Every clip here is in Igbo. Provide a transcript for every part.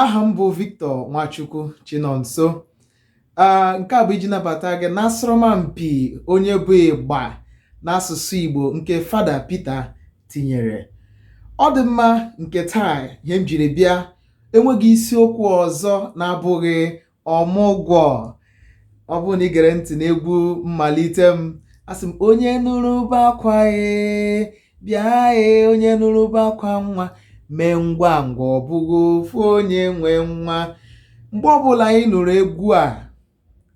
aha m bụ Victor Nwachukwu Chinonso nke a bụ iji nabata gị n'asọrọmpi onye bụ ịgba n'asụsụ Igbo nke Fada Peter tinyere ọ dị mma nke taa ihe m jiri bịa enweghị isiokwu ọzọ na-abụghị ọmụgwọ ọ bụrụ na i gere ntị n'egwu mmalite m asị m onye nụrụ ube akwa ee bịa ee onye nụrụ ube akwa nwa mee ngwa ngwa ọ bụghị ofu onye nwe nwa mgbe ọbụla anyị nụrụ egwu a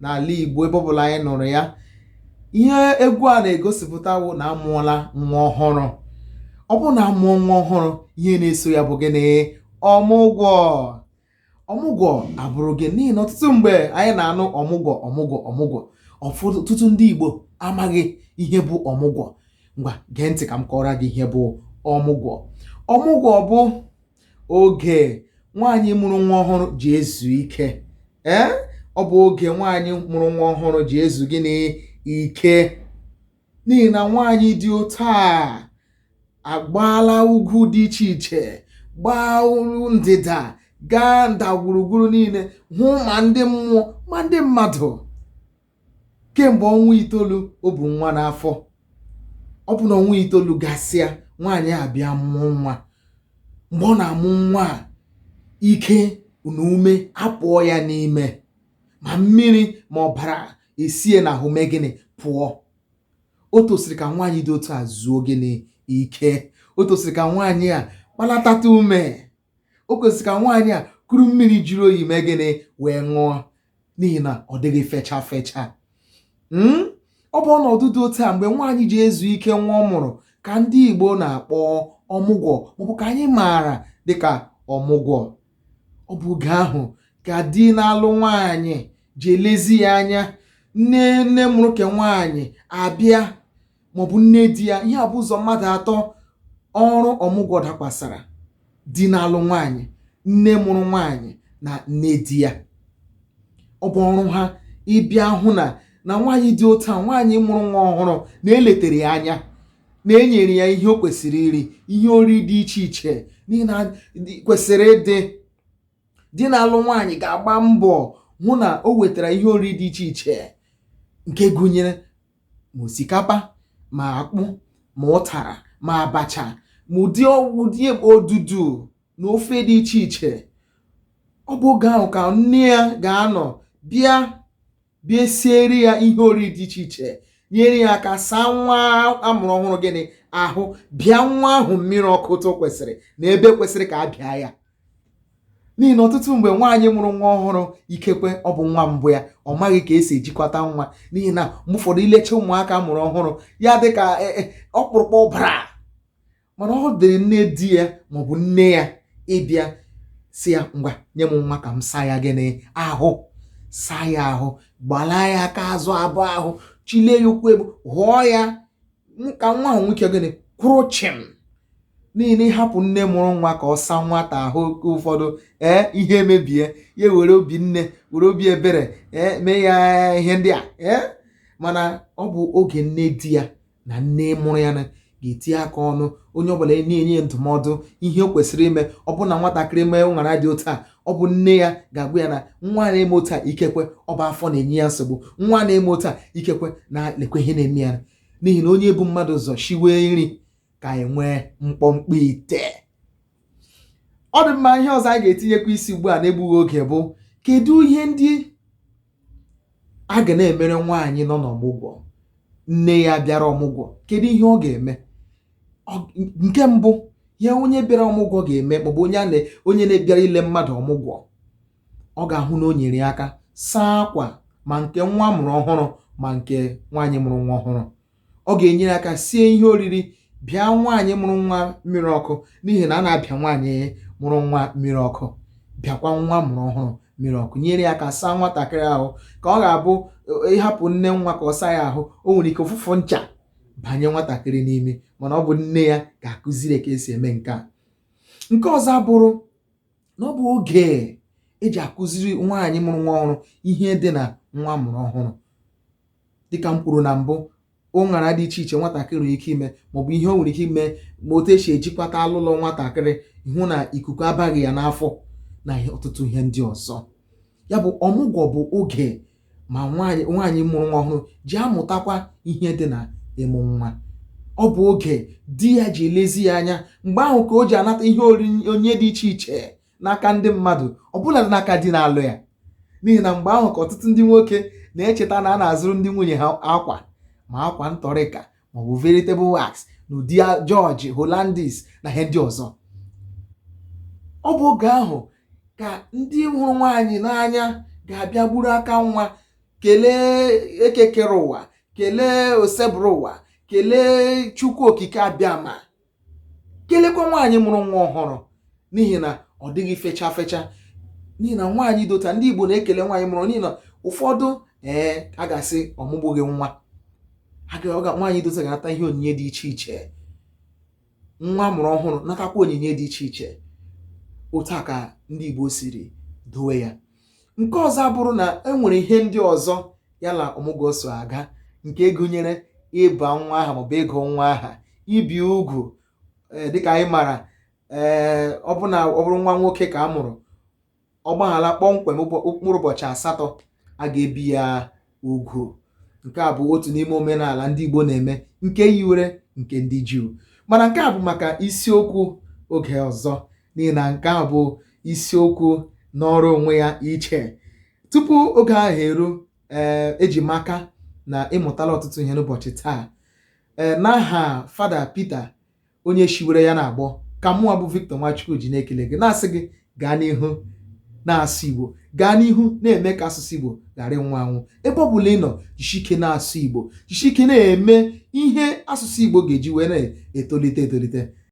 n'ala Igbo ebe ọbụla anyị nụrụ ya ihe egwu a na-egosipụta wụ na a mụọla nwa ọhụrụ ọ bụrụ na a mụọ nwa ọhụrụ ihe na-eso ya bụ gịnị ọmụgwọ ọmụgwọ abụrụ gịnị n'ihi na ọtụtụ mgbe anyị na-anụ ọmụgwọ ọmụgwọ ọmụgwọ ọfụdụ ọtụtụ ndị Igbo amaghị ihe bụ ọmụgwọ ngwa gee ntị ka m kọọrọ gị ihe bụ ọmụgwọ ọmụgwọ bụ oge nwaanyị mụrụ nwa ọhụrụ ji ezu ike ee ọ bụ oge nwaanyị mụrụ nwa ọhụrụ ji ezu gịnị ike n'ihi na nwaanyị dị otu a agbaala ugwu dị iche iche gbaa olu ndịda gaa ndagwurugwuru niile hụ ma ndị mmụọ ma ndị mmadụ kemgbe ọnwa itoolu o bu nwa n'afọ ọ bụ na ọnwa itoolu gasịa nwaanyị abịa mụọ nwa mgbe ọ na-amụ nwa a ike na ume apụọ ya n'ime ma mmiri ma ọbara esie n'ahụ mee gịnị pụọ o tosiri ka nwaanyị dị otu a zuo gịnị ike o tosiri ka nwaanyị a kpalatata ume o tosiri ka nwaanyị a kuru mmiri jiri oyi mee gịnị wee ṅụọ n'ihi na ọ dịghị fecha fecha hmm? ọ bụ ọnọdụ dị otu a mgbe nwaanyị ji ezu ike nwa ọ mụrụ ka ndị Igbo na-akpọ ọmụgwọ maọbụ ka anyị maara dịka ọmụgwọ ọ bụ oge ahụ ka di na-alụ nwaanyị ji elezi ya anya nne nne mụrụ ke nwaanyị abịa maọbụ nne di ya ihe a bụ ụzọ mmadụ atọ ọrụ ọmụgwọ dakwasara di na-alụ nwaanyị nne mụrụ nwaanyị na nne di ya ọ bụ ọrụ ha ịbịa hụ na na nwaanyị dị otu a nwaanyị mụrụ nwa ọhụrụ na e letere ya anya na e nyere ya ihe o kwesịrị iri ihe ori dị iche iche n'ihi na kwesịrị ịdị di na-alụ nwaanyị ga-agba mbọ hụ na o wetara ihe ori dị iche iche nke gụnyere ma osikapa ma akpụ ma ụtara ma abacha ma ụdị ụdị odudu na ofe dị iche iche ọ bụ oge ahụ ka nne ya ga-anọ bịa bịa siere ya ihe oriri dị iche iche nyere ya aka saa nwa amụrụ ọhụrụ gịnị ahụ bịa nwa ahụ mmiri ọkụ otu kwesịrị na ebe kwesịrị ka a bịa ya n'ihi na ọtụtụ mgbe nwaanyị mụrụ nwa ọhụrụ ikekwe ọ bụ nwa mbụ ya ọ maghị ka esi ejikwata nwa n'ihi na mgbe ụfọdụ ilecha ụmụaka amụrụ ọhụrụ ya dị ka e, e, ọkpụrụkpụ ọbara mana ọ dịrị nne di ya maọbụ nne ya ịbịa sị ya ngwa nye m nwa ka m saa ya gịnị ahụ saa ya ahụ gbalaa ya aka azụ abụọ ahụ chilie ya ụkwụ elu hụọ ya ka nwa ahụ nwee ike gịnị kwụrụ chịm n'ihi na ịhapụ nne mụrụ nwa ka ọ saa nwata ahụ oge ụfọdụ ee ihe emebie ya were obi nne were obi ebere ee mee ya ihe ndị a ee mana ọ bụ oge nne di ya na nne mụrụ ya ga-etinye aka ọnụ onye ọbụla e na-enye ya ndụmọdụ ihe o kwesịrị ime ọ bụ na nwatakịrị mee ụṅara dị otu a ọ bụ nne ya ga-agwa ya na nwa na-eme otu a ikekwe ọ bụ afọ na-enye ya nsogbu nwa na-eme otu a ikekwe na lekwe ihe na-eme ya n'ihi na onye bu mmadụ ụzọ shiwe nri ka enwe mkpọmkpọ ite ọ dị mma ihe ọzọ anyị ga-etinyekwa isi ugbu a n'egbughị oge bụ kedu ihe ndị a ga na-emere nwaanyị nọ n'ọmụgwọ nne ya bịara ọmụgwọ kedu ihe ọ ga-eme nke mbụ ya onye bịara ọmụgwọ ga-eme maọbụ onye a onye na-ebịara ile mmadụ ọmụgwọ ọ ga-ahụ na o nyere ya aka saa akwa ma nke nwa amụrụ ọhụrụ ma nke nwaanyị mụrụ nwa ọhụrụ ọ ga-enyere aka sie ihe oriri bịa nwaanyị mụrụ nwa mmiri ọkụ n'ihi na a na-abịa nwaanyị mụrụ nwa mmiri ọkụ bịakwa nwa amụrụ ọhụrụ mmiri ọkụ nyere ya aka saa nwatakịrị ahụ ka ọ ga-abụ e, ịhapụ nne nwa ka ọ saa ya ahụ o nwere ike ụfụfụ ncha banye nwatakịrị n'imi mana ọ bụ nne ya ga-akụziri ka esi eme nke a nke ọzọ abụrụ na ọ bụ oge eji akụziri nwaanyị mụrụ nwa ọhụrụ ihe dị na nwa amụrụ ọhụrụ dịka m kwuru na mbụ ụṅara dị iche iche nwatakịrị nwere ike ime maọbụ ihe o nwere ike ime ma otu esi ejikwata alụlọ nwatakịrị hụ na ikuku abaghị ya n'afọ na ọtụtụ ihe ndị ọzọ ya bụ ọmụgwọ bụ oge ma nwaanyị mụrụ nwa ọhụrụ ji amụtakwa ihe dị na ịmụ nwa ọ bụ oge di ya ji elezi ya anya mgbe ahụ ka o ji anata ihe onyinye dị iche iche n'aka ndị mmadụ ọbụladị n'aka di na-alụ ya n'ihi na mgbe ahụ ka ọtụtụ ndị nwoke na-echeta na a na-azụrụ ndị nwunye ha akwa ma akwa ntọrịka maọbụ veritable wax n'ụdị jọji holandis na ihe ndị ọzọ ọ bụ oge ahụ ka ndị hụrụ nwaanyị n'anya ga-abịa gburu aka nwa kelee eke kere ụwa kelee osebụrụ ụwa kelee chukwu okike abịama kelekwa nwaanyị mụrụ nwa ọhụrụ n'ihi na ọ dịghị fecha fecha n'ihi na nwaanyị dị otu a ndị Igbo na-ekele nwaanyị mụrụ n'ihi na ụfọdụ ee a ga-asị ọ mụgbughị nwa nwaanyị dị otu a ga-anata ihe onyinye dị iche iche nwa a mụrụ ọhụrụ natakwa onyinye dị iche iche otu a ka ndị Igbo siri dowe ya nke ọzọ abụrụ na e nwere ihe ndị ọzọ ya na ọmụgwọ so aga nke gụnyere ịba nwa aha maọbụ ịgụ nwa aha ibi ugwu eh, dịka anyị mara ee eh, ọ bụrụ na ọ bụrụ nwa nwoke ka a mụrụ ọ gbahala kpọmkwem mkpụrụ ụbọchị asatọ a ga-ebi ya ugwu nke a bụ otu n'ime omenala ndị Igbo na-eme nke yiwere nke ndị Juu mana nke a bụ maka isiokwu oge ọzọ n'ihi na nke a bụ isiokwu nọrọ onwe ya iche tupu oge ahụ eru ee eh, eji m aka na ị mụtala ọtụtụ ihe n'ụbọchị taa ee eh, n'aha fada Peter onye shiwere ya na-agbọ ka mụnwa bụ Victor Nwachukwu ji na-ekele gị na-asị gị gaa n'ihu na-asụ Igbo gaa n'ihu na-eme ka asụsụ Igbo ghara ịnwụ anwụ ebe ọ bụla ị nọ jisike na-asụ Igbo jisike na-eme ihe asụsụ Igbo ga-eji wee na-etolite etolite